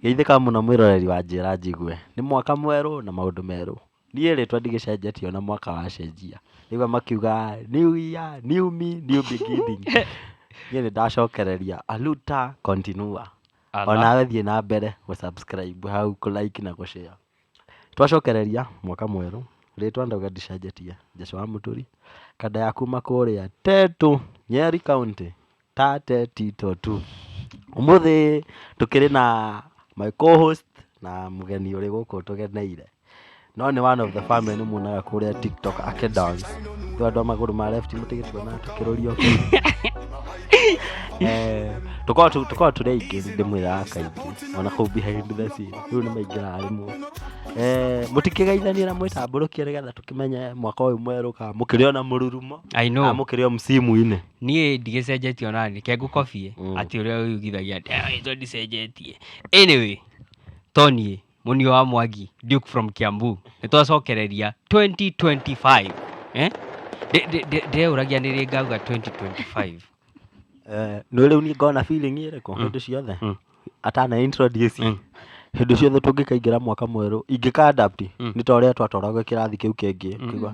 Geithĩka mũno mwĩroreri wa Njĩra Njigue. Nĩ mwaka mwerũ na maũndũ merũ. Niĩ rĩtwa ndigĩcenjetie o na mwaka wacenjia. Ndaigua makiuga New Year, New Me, New Beginning. Niĩ nĩ ndacokereria Aluta Continua. O nawe thiĩ na mbere gũ subscribe hau, kũ like na kũ share. Twacokereria mwaka mwerũ, rĩtwa ndauga ndicenjetie, Jesũ wa Mũturi, kanda ya kuma kũrĩa Tetũ, Nyeri County. Tate Tito tu. Ũmũthĩ tũkĩrĩ na my co-host na mũgeni ũrĩ gũkũ tũgeneire. No nĩ one of the family nĩ muonaga kũrĩa TikTok ake dance. Nĩ andũ a magũrũ ma left mũtige tuona tũkĩrũrio. Eh, tũkoragwo tũ- tũkoragwo tũrĩ aingĩ ndĩmwĩraga kaingĩ ona kũu behind the scene rĩu nĩ maingĩraga rĩmwe Eh, mũtikĩgeithanie na mwĩtambũrũkie nĩgetha tũkĩmenye mwaka ũyũ mwerũ ka mũkĩrĩ ona mũrurumo I know. Ah, mũkĩrĩ o msimu-inĩ Niĩ ndigĩcenjetie ona nĩ ke ngũkobie Mm. atĩ ũrĩa ũyugithagia ndio ndicenjetie. Anyway, to niĩ mũnio wa Mwangi Duke from Kiambu nĩ twacokereria 2025 eh? Ndĩ- ndĩ- ndĩ- Ndĩreũragia nĩ rĩ ngauga 2025 Eh, nĩ rĩu niĩ ngona feeling ĩrĩkũ hĩndĩ ciothe Mm. atana introduce Mm. hĩndĩ ciothe tũngĩkaingĩra mwaka mwerũ ingĩka adapt Mm. nĩ ta ũrĩa twatoragwo kĩrathi kĩu kĩngĩ kĩgwa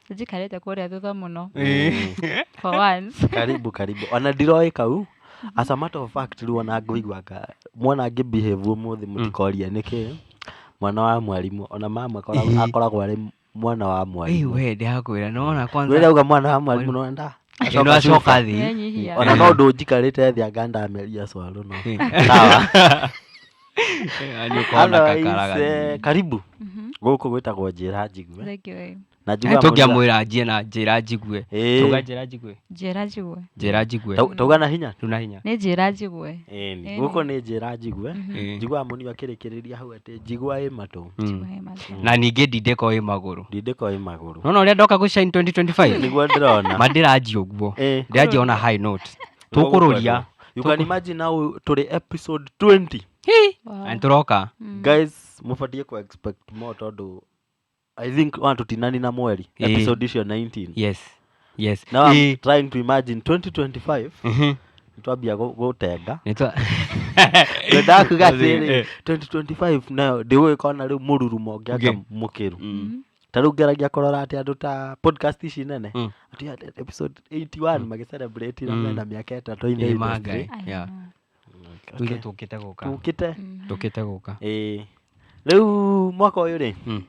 njikarĩte kũrĩa thutha mũno for once karibu karibu ona ndiroĩ kau as a matter of fact rĩu ona ngũiguanga mwana ngĩ behave ũmũthĩ mũtikoria nĩkĩ mwana wa mwarimũ ona mama akoragwo- Eh. akoragwo arĩ mwana wa mwarimũ we ndĩrakwĩra nona kwanza rĩrauga mwana wa mwarimũ nona nda Ĩno acoka acoka thĩ Nĩanyihia. ona no ndũnjikarĩte thĩ anga ndameria cwarũ no Eh. sawa Andũ aise, karibu Mhm. gũkũ gwĩtagwo njĩra njigue Thank you, eh. na Eh, njugaga tũngĩamwĩra njie na njĩra njigue Ĩĩ. tuga njĩra njigue njĩra njigwe njĩra njigue Tau- tauga na hinya tuna hinya nĩ njĩra njigwe Ĩni, Ĩni. gũkũ nĩ njĩra njigue Ĩĩ. njiguaga mũnio akĩrĩkĩrĩria hau atĩ njigua ĩ matũ Mm. Wee matha. na ningĩ ndindĩko ĩ magũrũ ndindĩko ĩ magũrũ nona ũrĩa ndoka gũshine 2025 nĩguo ndĩrona mandiranji ũguo Ĩĩ. ndiranji ona high note Tũkũrũria. you can imagine now tũrĩ episode 20 Hi. Wow. Na nĩtũroka guys mũbatiĩ ku expect more tondũ i think ona tũtinani na mweri Ĩĩ. episode icio 19 yes yes now i'm Ĩĩ. trying to imagine 2025 Mhm. nitwambia gu- gũtenda Nĩtwa- ndendaga kuga atĩrĩ Eh. 2025 nayo ndĩgũgĩkona rĩu mũrurumo ngĩaka Ngĩ- mũkĩru Mm. ta rĩu ngeragia kũrora atĩ andũ ta podcast ici nene Mm. atĩ ya- episode 81 magĩcelebrate na Mm. mena mĩaka ĩtatũ in the Ĩĩ, ma industry. ngai. Yeah. Okay. Ithuĩ tũkĩte gũka Tũkĩte. tũkĩte gũka Ĩĩ. rĩu mwaka ũyũ rĩ Mm.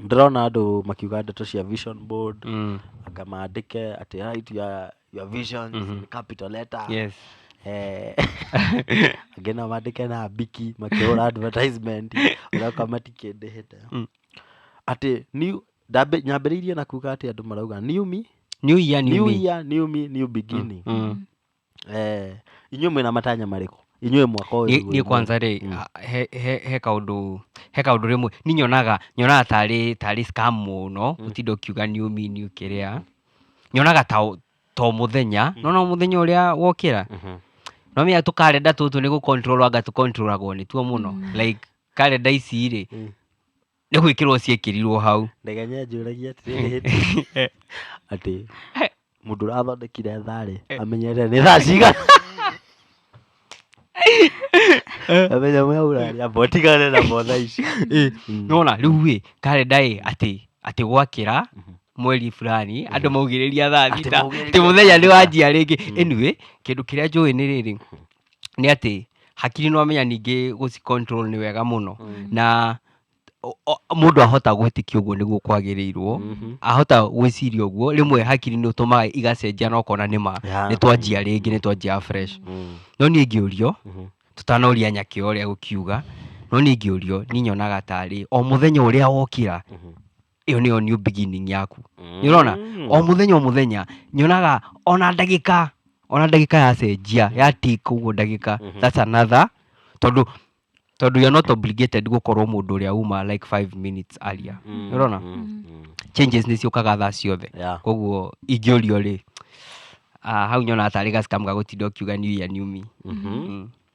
ndĩrona andũ makiuga ndeto cia vision board Mm. anga maandĩke atĩ right your, your visions Mhm. in capital letter yes Eh, angĩ no mandĩke na mbiki makĩhũra advertisement ũraka matikĩndĩhĩte Mm. Atĩ new, ndambĩ- nyambĩrĩirie na kuga atĩ andũ marauga new me, new year new, new me year, new me, new beginning. Mm. Eh, inyuĩ mwĩna matanya marĩkũ inyuĩ mwaka ũyũ Niĩ- niĩ wĩ- kwanza rĩ Mm. a- he- he he kaũndũ he kaũndũ rĩmwe ni nyonaga nyonaga tarĩ tarĩ scam mũno gũtinda ũkiuga new me new kĩrĩa nyonaga ta o- ta o mũthenya nona o mũthenya ũrĩa wokĩra Mhm. no mĩya tũkarenda tũtũ nĩ gũcontrol anga tũcontrolagwo nĩ tuo mũno like karenda ici rĩ Mm. nĩ gwĩkĩrwo ciekĩrirwo hau ndege nyanjũragia atĩrĩrĩ hĩndĩ atĩ mũndũ ũrathondekire tharĩ amenyete nĩ thaa cigana amenya mwe ũraria mbotigane na motha ici Ĩ, Mm. nona rĩu ĩ karenda ĩ atĩ atĩ gwakĩra mweri fulani andũ maugĩrĩria thaa Atĩ thita maugĩrĩria atĩ mũthenya nĩ wanjia rĩngĩ anyway kĩndũ kĩrĩa njũĩ nĩ rĩrĩ nĩ atĩ hakiri nĩ wamenya ningĩ gũci control nĩ wega mũno na o- o- mũndũ ahota gwĩtĩkia ũguo nĩguo kwagĩrĩirwo Mhm. ahota gwĩciria ũguo rĩmwe hakiri nĩ ũtũmaga igacenjia na ũkona nĩ ma Yeah. nĩ twanjia rĩngĩ nĩ twanjia fresh Mm. no niĩ ngĩũrio Mhm. tũtanoria nyakĩ ũrĩa gũkiuga no niĩ ngĩũrio niĩ nyonaga tarĩ o mũthenya ũrĩa wokĩra Mhm. ĩyo nĩyo new beginning yaku nĩ ũrona Mm. o mũthenya o mũthenya nyonaga ona ndagĩka ona ndagĩka yacenjia ya tik ũguo ndagĩka Mhm. that's another tondũ tondũ you're not obligated gũkorwo mũndũ ũrĩa uma like 5 minutes aria Mm, nĩ ũrona mm, mm. changes nĩ ciũkaga thaa ciothe Yeah. koguo ingĩũrio rĩ ah, hau nyona tarĩ gacikamu gagũtinda ũkiuga new year new me Mhm. Mm.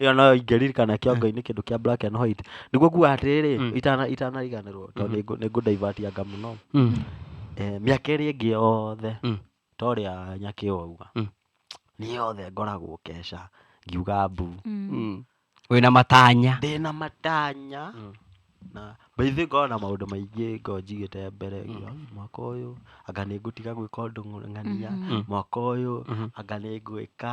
ĩyo nayo ingĩririkana kĩongo-inĩ kĩndũ kĩa black and white nĩguo nguga atĩrĩrĩ Mm. itana itanariganĩrwo tondũ Mhm. nĩngũ- nĩngũndaivaatianga mũno Mm. Eh, mĩaka ĩrĩa ĩngĩ yothe Mm. ta ũrĩa nyakĩ wauga Mm. niĩ yothe ngoragwo keca ngiuga mbu Mm. wĩna matanya ndĩ na matanya Mm. na baithĩ ngorwo na maũndũ maingĩ ngorwo njigĩte mbere nginya, mwaka ũyũ anga nĩ ngũtiga gwĩka ũndũ ng'ania Mhm. mwaka ũyũ Mhm. anga nĩ ngwĩka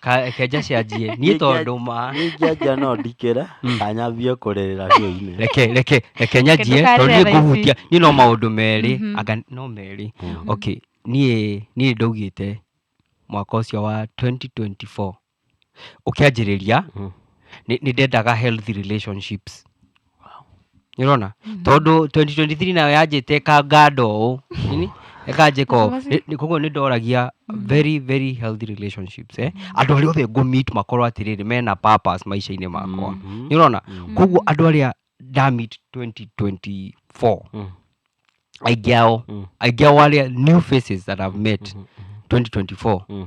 Ka- kenja cianjie niĩ tondũ ma nĩngĩanja no ndikĩra Mm. kanyambie kũrĩrĩra kĩoinĩ reke reke reke nyanjie ndũkarĩre tondũ niĩ thaa ici. ngũhutia niĩ no maũndũ merĩ Mhm. anga no merĩ Mhm. okay niĩ niĩ ndaugĩte mwaka ũcio wa 2024 ũkĩanjĩrĩria Mm. nĩ nĩ ndendaga healthy relationships nĩũrona tondũ 2023 nayo yanjĩte ĩkanganda ũũ nini, ĩkanjĩka ũũ Nĩ- nĩ- koguo nĩ ndoragia very very healthy relationships eh? andũ arĩa othe ngũmit makorwo atĩrĩrĩ mena purpose maica-inĩ makwa Mhm. nĩũrona Mhm. koguo andũ arĩa ndamit 2024 Mm. aingĩ ao Mm. aingĩ ao arĩa new faces that I've met Mhm. 2024 Mm.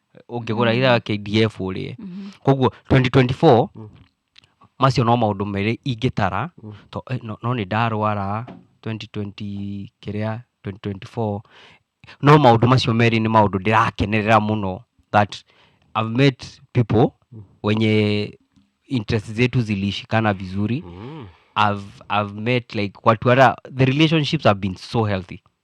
ũngĩgũra ira KDF ũrĩe koguo 2024 macio no maũndũ merĩ ingĩtara to- eh, no no nĩ ndarwara 2020 kĩrĩa 2024 no maũndũ macio merĩ nĩ maũndũ ndĩrakenerera mũno that I've met people wenye interest zetu zilishikana vizuri I've, I've met like watu hata the relationships have been so healthy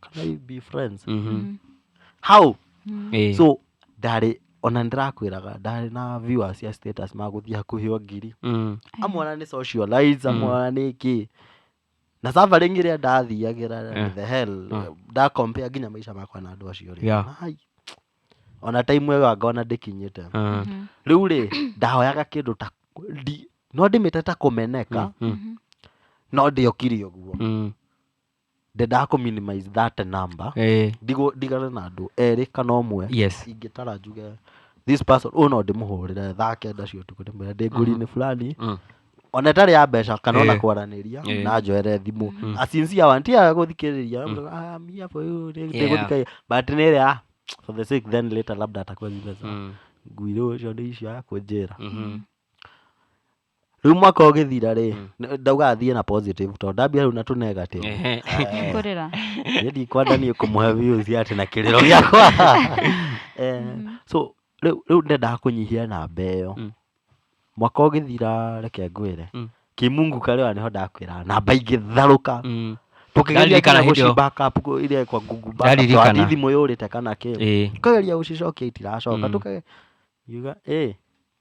can I be friends Mhm. how Eh. so ndarĩ ona ndĩrakwĩraga ndarĩ na viewers cia status magũthiĩ hakuhĩ o ngiri Mm. amwe ona nĩ socialize amwe ona nĩ kĩ na suffering ĩrĩa ndathiagĩra Eh. the hell Ah. ndakompea nginya maica makwa na andũ acio rĩ Yeah. Ai. ona time ĩyo ngona ndĩkinyĩte Ah. rĩu rĩ ndahoyaga kĩndũ ta ndi- no ndĩmĩte ta kũmeneka Mm. no ndĩokire ũguo Mm. ndendaga kũ minimize that number eh, ndigwo ndigane na andũ erĩ kana ũmwe yes ingĩtara njuge this person ũyũ no ndĩmũhũrĩre thaa kenda cia ũtukũ ndĩmwĩre ndĩ ngũri-inĩ fulani Mm. ona ĩtarĩ ya mbeca kana ona Eh. kwaranĩria Eh. na njoere thimũ Mm. asinsia wa ntiaga gũthikĩrĩria "Ah, mi hapa huyu, nĩ- Yeah. ndĩgũthikĩrĩria." but nĩ ĩrĩa "Ah, for the sake then later labda atakuwa zimeza Mm. nguirĩ ũcio nĩ icio ya kũnjĩra Mhm. rĩu mwaka ũgĩthira rĩ nĩ- ndauga athiĩ na positive tondũ ndambia rĩu na tũ negative Ehe. kũrĩra niĩ ndikwenda niĩ kũmũhe views atĩ na kĩrĩro gĩakwa Eh, so rĩu rĩu ndendaga kũnyihia namba ĩyo Mm. mwaka ũgĩthira reke ngwĩre Mm. kimungu karĩwa nĩho ndakwĩra namba ingĩtharũka Mm. tũkĩgeria Ndaririkana nginya hĩndĩ ĩyo. gũcimba cup kũ- iria kwa Google Backup, Ndaririkana. twathiĩ thimũ yũrĩte kana kĩ Ĩĩ. tukageria gũcicokia itiracoka Mm. tukageria yuga ĩ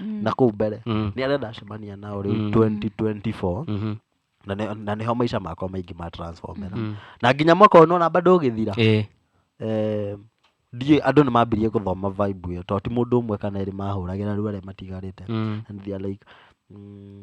Mm. na kũu mbere Mm. nĩ arĩa ndacemania nao rĩu Mm. 2024 Mhm. na nĩ- na nĩho maica makwa maingĩ ma transformera Mm. na nginya mwaka ũyũ nona bado ũgĩthira Eh. Eh, ndiĩ andũ nĩ mambirie gũthoma vibe ĩyo tondũ ti mũndũ ũmwe kana erĩ mahũragĩra rĩu arĩa matigarĩte Mm. and they are like mm,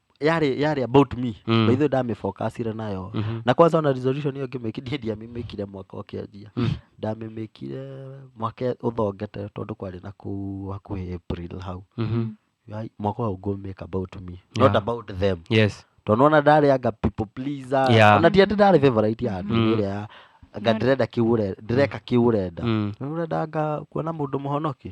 yale yale about me Mm. by the way ndamĩfocusire nayo Mhm. na kwanza ona resolution ĩyo ngĩmĩkirie ndiamĩmĩkire mwaka ũkĩanjia Mm. ndamĩmĩkire mwaka ũthongete tondũ kwarĩ na kuu hakuhĩ april hau Mhm. Ai, mwaka ũyũ ngũmĩka about me Yeah. not about them yes tondũ ona ndarĩ anga people pleaser Yeah. ona ti atĩ ndarĩ favorite ya andũ Mm. ĩrĩa ya anga ndĩrenda kĩu ũre- ndĩreka kĩu ũrenda Mm. Nĩ ũrenda anga kuona mũndũ mũhonoki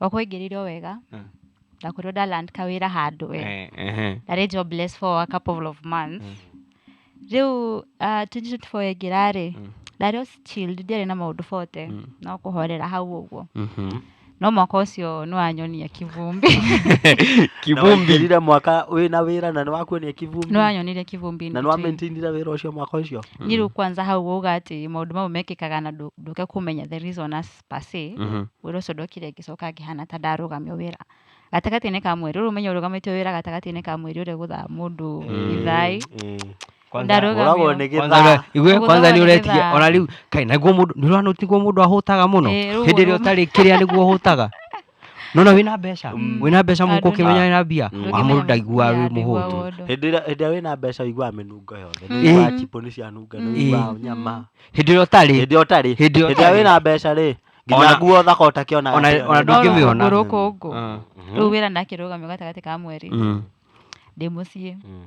Wakũingĩrire o wega, Ah. ndakwĩrwo nda land kawĩra handũ we. Eh, ehe. Ndarĩ jobless for a couple of months. Mm. Rĩu ah, 2024 yaingĩra-rĩ, Mm. ndarĩ o chilled, ndiarĩ na maũndũ bote, Mm. no kũhorera hau ũguo. Mhm. No mwaka ũcio nĩwanyonia kĩvumbi. kivumbi kivumbi mwaka wĩna wĩra na nĩwakuonia kivumbi Nĩwanyonire kĩvumbi in na between. nĩwamaintainire wĩra ũcio mwaka ũcio Nĩ rĩu kwanza hau uga atĩ maũndũ mau mekĩkaga na ndũ- ndũke kũmenya the reason as pacĩ Mhm. wĩra ũcio ndokire ngĩcoka ngĩhana ta ndarũgamio wĩra gatagatĩ-inĩ ka mweri rĩu menya ũrũgamĩtio wĩra gatagatĩ-inĩ ka mweri ũrĩa gũthaa mũndũ ithai Kwanza- Ndarũga- Ũragwo nĩ Kwanza gĩthaa ũra- igue Ũgũthaga kwanza nĩ nĩ ũretigia gĩthaa. ona rĩu kai naguo mũndũ nĩ ũrona nĩguo mũndũ ahũtaga mũno Eh, rĩu hĩndĩ ĩrĩa ũrũma- ũtarĩ kĩrĩa nĩguo ũhũtaga nona wä na mbeca wä na mbeca må Andũ kå kä menya nĩ- wä na mbia Andũ wa må ndå nĩmenyaga ndaigua wä må hå tu mũndũ. hĩndĩ ĩrĩa hĩndĩ ĩrĩa wĩna mbeca ũiguaga mĩnungo yothe nĩ Mm. ũiguaga Mm. chipũ nĩ cianunga nĩ Mm. ũiguaga nyama hä ndä ä rä a å tarä hĩndĩ ĩrĩa ũtarĩ Hĩndĩ ĩrĩa hĩndĩ ĩrĩa ũtarĩ. wĩna mbeca rĩ Ona- nginya nguo ũthaka ũtakĩona ona- atĩ- ona ndũngĩ- ndũngĩmĩona. rå kå ngå Mhm. rä u wä ra nakä rå gamä gatagatĩ ka mweri ndä må ciä Mm.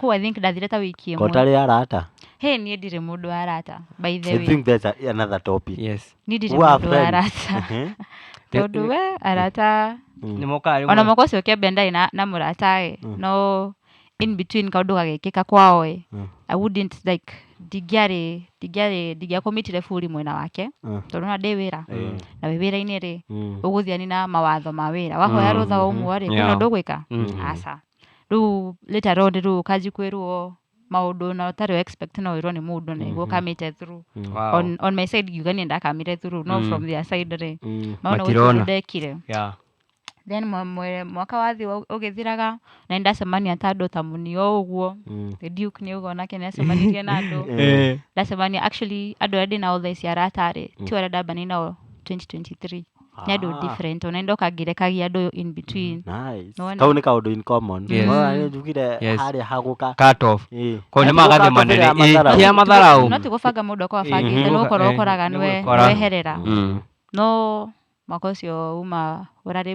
Kũu I think ndathire ta wiki ĩmwe. kotarĩ arata Hey, niĩ ndirĩ mũndũ wa arata. By the i way, think that's a, another topic yes niĩ ndirĩ Who are mũndũ wa friends? arata. Ehe. Tondũ we arata nĩ mokaga rĩmwe ona mwaka ũcio kĩambere ndarĩ na, na mũrataĩ Mm. no in between kaũndũ gagĩkĩka kwaoĩ Mm. i wouldn't like ndingĩarĩ ndingĩarĩ ndingĩakũmitire buri mwena wake Mm. tondũ na ndĩ wĩra Mm. na wĩ wĩra-inĩ rĩ Mm. ũgũthiani na mawatho ma wĩra wahoya Mm. rũtha wa ũmwe rĩ Yeah. kwĩna ũndũ ũgwĩka Mm. aca rĩu rita rĩu rĩu ũkanji kwĩrwo maũndũ na ũtarĩ expect no wĩrwo nĩ mũndũ na iguo kamĩte through Wow. on, on my side ngiuga niĩ ndakamire through no from their side rĩ Mm. maona Matirona. gũtirĩ ndekire Yeah. then mwa- mwe- mwaka wathi ũgĩthiraga na nĩndacemania ta andũ ta mũnio ũguo Mm. The duke nĩ ũguo nake nĩacemanirie na andũ Eh. ndacemania actually andũ arĩa ndĩ nao thaa ici aratarĩ ti arĩa ndambanĩ nao 2023 ni andu Ah. different ona ndoka ngirekagia andu in between Nice. Nĩwona? kau nĩ kaũndũ in common Yes. Nĩwona, nĩ njugire Yes. harĩa hagũka cut off Ĩĩ. ko nä magathä manene Gatũmĩra matharaũ. kä a matharau no tigåbanga må ndå akwa Mhm. bangä nä gå korwo Eh, å koraga nĩ nwe- gũkora. nweherera Mm. no mwaka å cio uma å rarä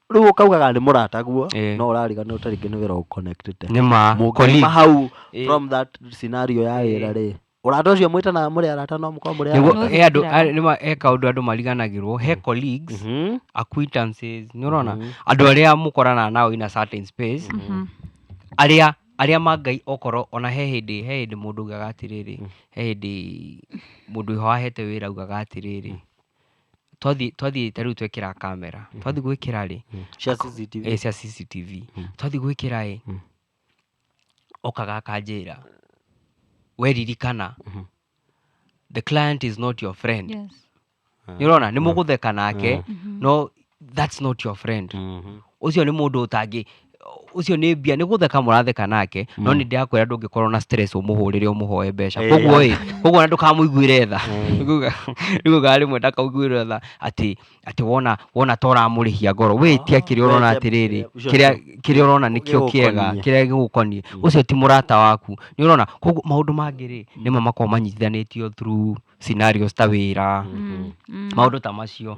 rĩu ũkaugaga nĩ mũrata guo Eh. no ũrariganĩrwo ta rĩngĩ nĩ wĩra ũconnectĩte nĩ ma mũngĩuma colleague. hau Eh. from that scenario ya Eh. wĩra rĩ ũrata ũcio mwĩtanaga mũrĩ arata no mũkorwo mũrĩ Nĩguo- arata. he andũ Nĩgũthikĩra. a- nĩ ma- he kaũndũ andũ mariganagĩrwo he colleagues Mhm. acquaintances nĩ ũrona Mhm. andũ arĩa mũkoranaga nao in a certain space Mhm. arĩa arĩa ma ngai okorwo ona he hĩndĩ he hĩndĩ mũndũ ugaga atĩrĩrĩ he hĩndĩ mũndũ wahete wĩra ugaga atĩrĩrĩ twathiĩ twathiĩ ta rĩu twekĩra kamera twathiĩ gwĩkĩra rĩ cia CCTV eh, cia CCTV twathiĩ gwĩkĩra ĩ okaga akanjĩra weririkana the client is not your friend Yes. nä rona nä må gå theka nake no that's not your friend Mhm. å cio nä må ndå å tangä ũcio nĩ mbia nĩ gũtheka mũratheka nake no nĩ ndĩrakwĩra ndũngĩkorwo na stress ũmũhũrĩre ũmũhoe mbeca Eh. koguo ĩ koguo na ndũkamũiguĩre tha nĩguga rĩmwe ndakaiguĩre tha atĩ atĩ wona wona ta ũramũrĩhia ngoro wĩ ti akĩrĩa ũrona Wete- atĩrĩrĩ ũcio kĩrĩa nĩ- kĩrĩa ũrona nĩkĩo nĩkĩo kĩega gĩgũkoniĩ. kĩrĩa gĩgũkoniĩ ũcio ti mũrata waku nĩ ũrona koguo maũndũ mangĩ rĩ nĩmo makoragwo manyitithanĩtio through scenarios ta wĩra maũndũ ta macio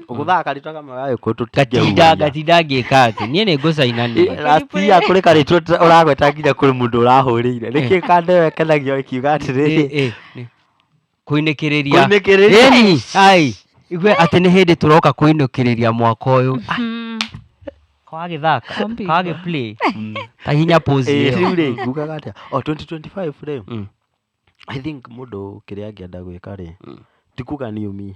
ũgũthaga karĩtwa kamwe gagĩkũyũ gatinda gatinda ngĩka atĩ niĩ nĩ ngũcainania ratia kũrĩ karĩtwa ũta- ũragweta nginya kũrĩ mũndũ ũrahũrĩire nĩkĩ kandewe kenagio ĩkiuga atĩrĩrĩ Eh, eh, eh. kũinĩkĩrĩria Kũinĩkĩrĩria. Ĩni, ai igue atĩ nĩ hĩndĩ tũroka kũinũkĩrĩria mwaka ũyũ Mm. kagagĩthaka Kombi. kagagĩplay ta hinya pose Eh, ĩyo. rĩu rĩ ngugaga atĩa o 2025 rĩ Mm. i think mũndũ kĩrĩa angĩenda gwĩka rĩ ti kuga niumi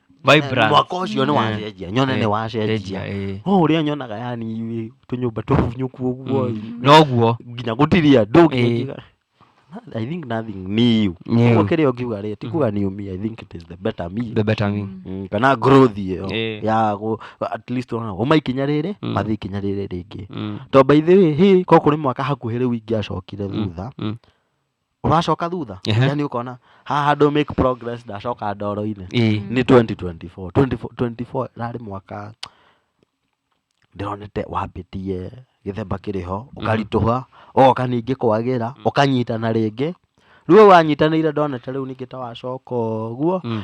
Vibrant. mwaka ũcio nĩ wacenjia nyone nĩ wacenjia Eh, o ũrĩa nyonaga yani tũnyũmba tũhunyũku ũguo mm. noguo nginya gũtiria ndũ nginya Eh. ngiuga, "Na- i think nothing new New. Ũguo kĩrĩa ũngiuga rĩ ti kuga new me i think it is the better me the better me Mm, kana growth ĩyo Eh. ya gũ- at least ona uma ikinya rĩrĩ Mm. mathiĩ ikinya rĩrĩ rĩngĩ Mm, to by the way hĩ ko kũrĩ mwaka hakuhĩ rĩu ingĩacokire thutha mm. ũracoka thutha Ehe. yani ũkona haha handũ make progress ndacoka ndoro-inĩ Ĩĩ. nĩ 2024 24 24 rarĩ mwaka ndĩronete wambĩtie gĩthemba kĩrĩ ho ũkaritũha ũgoka ningĩ kwagĩra ũkanyitana rĩngĩ rĩu ũyũ wanyitanĩire ndonete rĩu ningĩ ta wacoka ũguo Mm.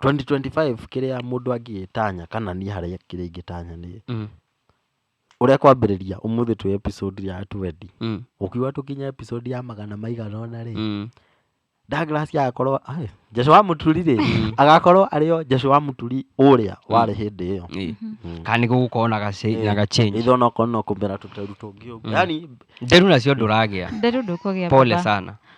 Twenty twenty five kĩrĩa mũndũ angĩgĩtanya kana niĩ harĩa kĩrĩa ingĩtanya nĩ Mm. ũrĩa kwambĩrĩria ũmũthĩ twĩ episode ya twendi Mm. ũkiuga tũkinya episode ya magana maigana ũna rĩ Mm. Douglas agakorwo ai, Jesu wa mũturi rĩ agakorwo arĩo Jesu wa mũturi ũrĩa warĩ hĩndĩ ĩyo Ĩ. Mm. kana nĩ gũgũkorwo na gace- na gachange ithe onakorwo no kũmera tũteru tũngĩ ũguo yani nderu nacio ndũragĩa nderu ndũkũgĩa pole baba. sana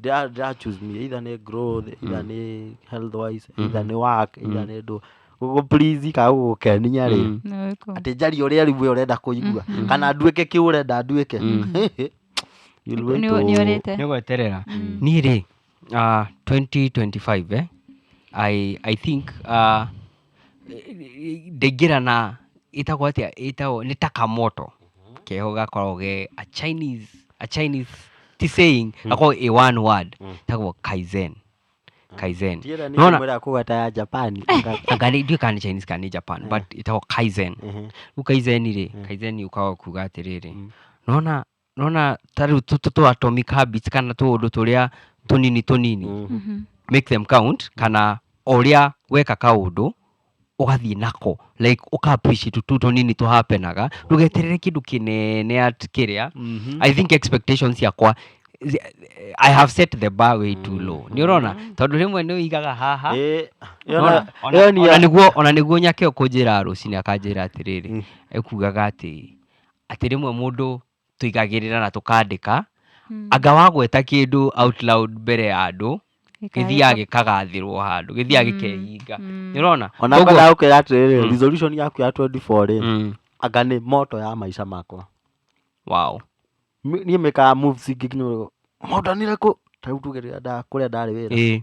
ndĩra ndĩra choose me either nĩ growth either nĩ health wise either nĩ work either nĩ ndũ gũgũ please kana gũgũkenia rĩ Nĩ wĩkũ? atĩ njarie ũrĩa ribu ĩyo ũrenda kũigua kana nduĩke kĩu ũrenda nduĩke You'll wait Nĩ- to- nĩ ũrĩte nĩ gweterera niĩ rĩ ah, 2025 eh, I, i think ah, Ndaingĩra na ĩtagwo atĩa ĩtagwo nĩ taka moto keho gakoragwo ge a Chinese a Chinese ti saying gakoragwo ĩ one word ĩtagwo Kaizen Kaizen Ndiũra nĩ Nĩwona- kũmwĩra kũgata ya Japan anga nĩ ndiũĩ kana nĩ Chinese kana nĩ Japan but ĩtagwo Kaizen rĩu Kaizen rĩ Kaizen yũkaga kuga atĩrĩrĩ nĩwona nĩ wona ta rĩu tũ- tũ- tũ atomic habits kana tũũndũ tũrĩa tũnini tũnini Mhm. make them count kana o ũrĩa weka kaũndũ ũgathiĩ nako like ũka appreciate tu tũnini tũhapenaga ndũgeterere kĩndũ kĩnene at kĩrĩa Mhm. i think expectations ciakwa zi- i have set the bar way too low nĩ ũrona tondũ rĩmwe nĩ ũigaga haha Ĩĩ, Ona- yona- ona- yoni ona ya- nĩguo- ona nĩguo nyake ũkũnjĩra rũcinĩ akanjĩra atĩrĩrĩ ekugaga atĩ atĩ rĩmwe mũndũ tũigagĩrĩra na tũkandĩka, hmm. anga wagweta kĩndũ out loud mbere ya andũ gĩthiaga gĩkagathĩrwo handũ gĩthiaga hmm. gĩkehinga hmm. nĩ ũrona ona ngona ũkĩra atĩrĩrĩ resolution yaku ya 24 rĩ anga nĩ moto ya maica makwa wow niĩ mekaga moves ingĩ nginya moto nĩ rĩkũ tarĩu tuge rĩrĩa kũrĩa ndarĩ wĩra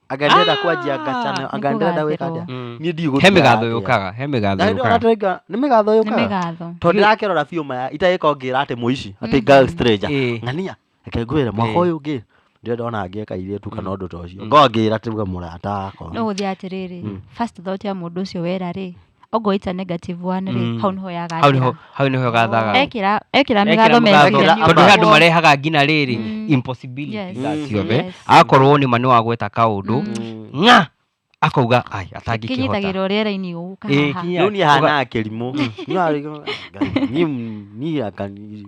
agenderera kwanjia ngacana Ah, agenderera nĩkũgathĩrwo. gwĩka atĩa Mm. niĩ ndigũtua he mĩgatho atĩa. yũkaga he mĩgatho Na hĩndĩ ĩyo yũkaga natũrenga- nĩ mĩgatho nĩ yũkaga mĩgatho tondũ ndĩrakerora biũ maya itagĩka ngĩra atĩ mũici atĩ Mhm. girl stranger Ĩĩ. ng'ania reke ngwĩre mwaka Ĩĩ. ũyũ ũngĩ ndĩrenda ona ngĩka irĩtu kana ũndũ ta ũcio ngongĩra tuga mũrata akwa no gũthiĩ atĩrĩrĩ Mm. first thought ya mũndũ ũcio wera rĩ ongwo ita negative one rĩ Mm. hau nĩho hau yagathira nĩho hau nĩho gathaga ekĩra ekĩra mĩgatho mĩgatho. mĩthenya tondũ he andũ marehaga ngina rĩrĩ Mm. impossibility Yes. za Mm. ciothe Yes. akorwo nĩ ma nĩ wagweta kaũndũ Mm. ng'a akauga ai atangĩkĩhota kinyitagĩrwo rĩera-inĩ Ĩĩ, ũkahaha kinya- rä u niä Uga- hanaga kä rimå niä akani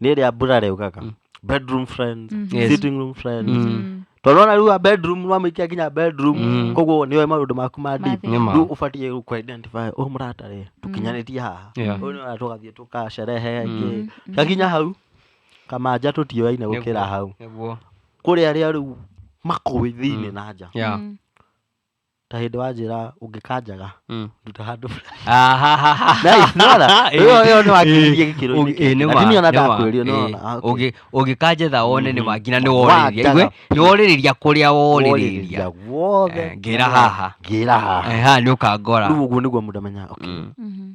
nä rä a mbura rä ugaga bedroom friends Yes. sitting room friends tondå ona rä u a bedroom nä wamä nginya bedroom koguo nä oä maå ndå maku ma deep. Nĩ ma. Rĩu ũbatiĩ rĩu kũ identify ũyũ mũrata rĩ tũkinyanĩtie haha Yeah. ũyũ nĩ tũgathiĩ tũkacerehe ĩngĩ gakinya hau kamanja tũtioyaine gũkĩra hau nĩguo kũrĩ arĩa rĩu makũĩ thĩinĩ na nja yeah ta hĩndĩ wanjĩra ũngĩkanjaga Mm. nduta handũ Nĩwona? Ĩyo- ĩyo nĩ wakiririe gĩkĩro-inĩ Ũngĩ- kĩngĩ. ĩ, nĩ Na ma, ti niĩ ona nĩ ma, ndakwĩrire, nĩ ĩ. wona, ah, okay. Ũngĩ- ũngĩkanjetha one nĩ ma nginya nĩ worĩrĩria Wanjaga. Igue, nĩ worĩrĩria kũrĩa worĩrĩria guothe Eh, ngĩra haha. ngĩra haha Eha, nĩ ũkangora rĩu ũguo nĩguo mũndũ amenyaga okay, Mhm.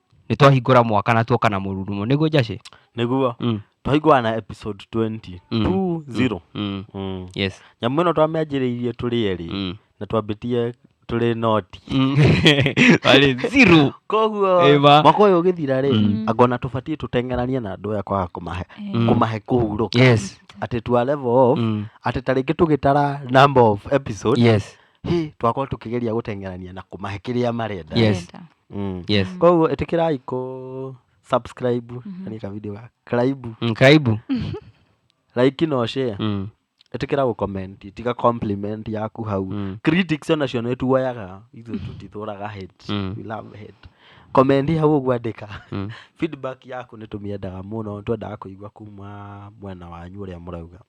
Nĩ twahingũra mwaka na tuoka na mũrurumo. Nĩguo Jacĩ? nĩguo Mm. twahingũra na episode 20 Mm. 20 Mm. Mm. Yes. nyamũ ĩno twamĩanjĩrĩirie tũrĩ erĩ Mm. na twambĩtie tũrĩ noti Mm. Arĩ zero. koguo Ĩma. mwaka ũyũ ũgĩthira rĩ Mm. angona tũbatiĩ tũteng'eranie na andũ aya kwaga kũmahe Mm. kũmahe kũhurũka Yes. atĩ twa level off Mm. atĩ ta rĩngĩ tũgĩtara number of episode Yes. hĩ twakorwo tũkĩgeria gũteng'erania na kũmahe kĩrĩa marenda Yes. Wenda. Mm. yes koguo ĩtĩkĩrai kũ subscribe nĩ ka video ga craibu Mm, kaibu like no share Mm. ĩtĩkĩra gũ comment tiga compliment yaku hau Mm. critics onacio nĩ tuoyaga ithuĩ tũtithũraga hate Mm. we love hate comment hau ũguo andĩka Mm. feedback yaku nĩ tũmĩendaga mũno twendaga kũigua kuma mwena wanyu ũrĩa mũrauga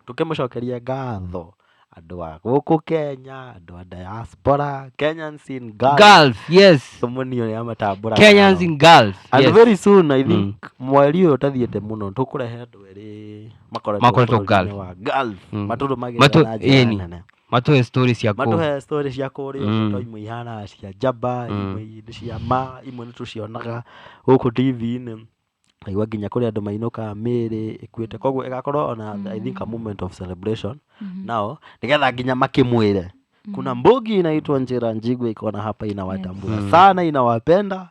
Tũkĩmũcokeria ngatho andũ a gũkũ Kenya, andũ a diaspora, Kenyans in Gulf. Gulf, yes. Tũmũnio nĩ amatambũra. Kenyans in Gulf. And yes. very soon I think mweri ũyũ ũtathiĩte mũno tũkũrehe andũ erĩ Makoretwo makoretwo bũrũri-inĩ Gulf. wa Gulf. Mm. Matũrũmagĩrĩra Matũ- na njĩra ĩni. nene. Matũhe story cia kũu. Matũhe story cia kũrĩa Mm. mm. to imwe ihana cia njamba, Mm. imwe nĩ cia ma, imwe nĩ tũcionaga gũkũ TV-inĩ. Ũkaigua nginya kũrĩ andũ mainũkaga mĩĩrĩ ĩkuĩte. Kwoguo ĩgakorwo o na I think a moment of celebration nao, nĩgetha nginya makĩmwĩre, kuna mbugi inaitwa Njĩra Njigua iko na hapa inawatambua sana inawapenda.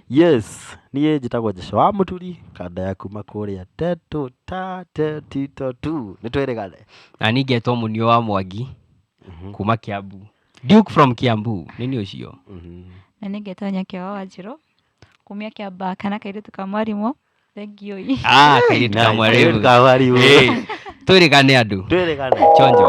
Yes, niĩ njĩtagwo Jesũ wa Mũturi, kanda ya kuma kũrĩa Tetũ ta Tetito tu. Nĩ twĩrĩgane. Na niĩ ngetwo Mũniũ wa Mwangi kuma Kiambu. Duke from Kiambu, nĩ niĩ ũcio. Na nĩ ngetwo Nyakĩoa Wanjirũ. kumia kĩamba kana kairĩtu ka mwarimũ thengiũ i Ah, kairĩtu ka mwarimũ. kamwarimu Hey, twĩrĩgane andũ twĩrĩgane chonjo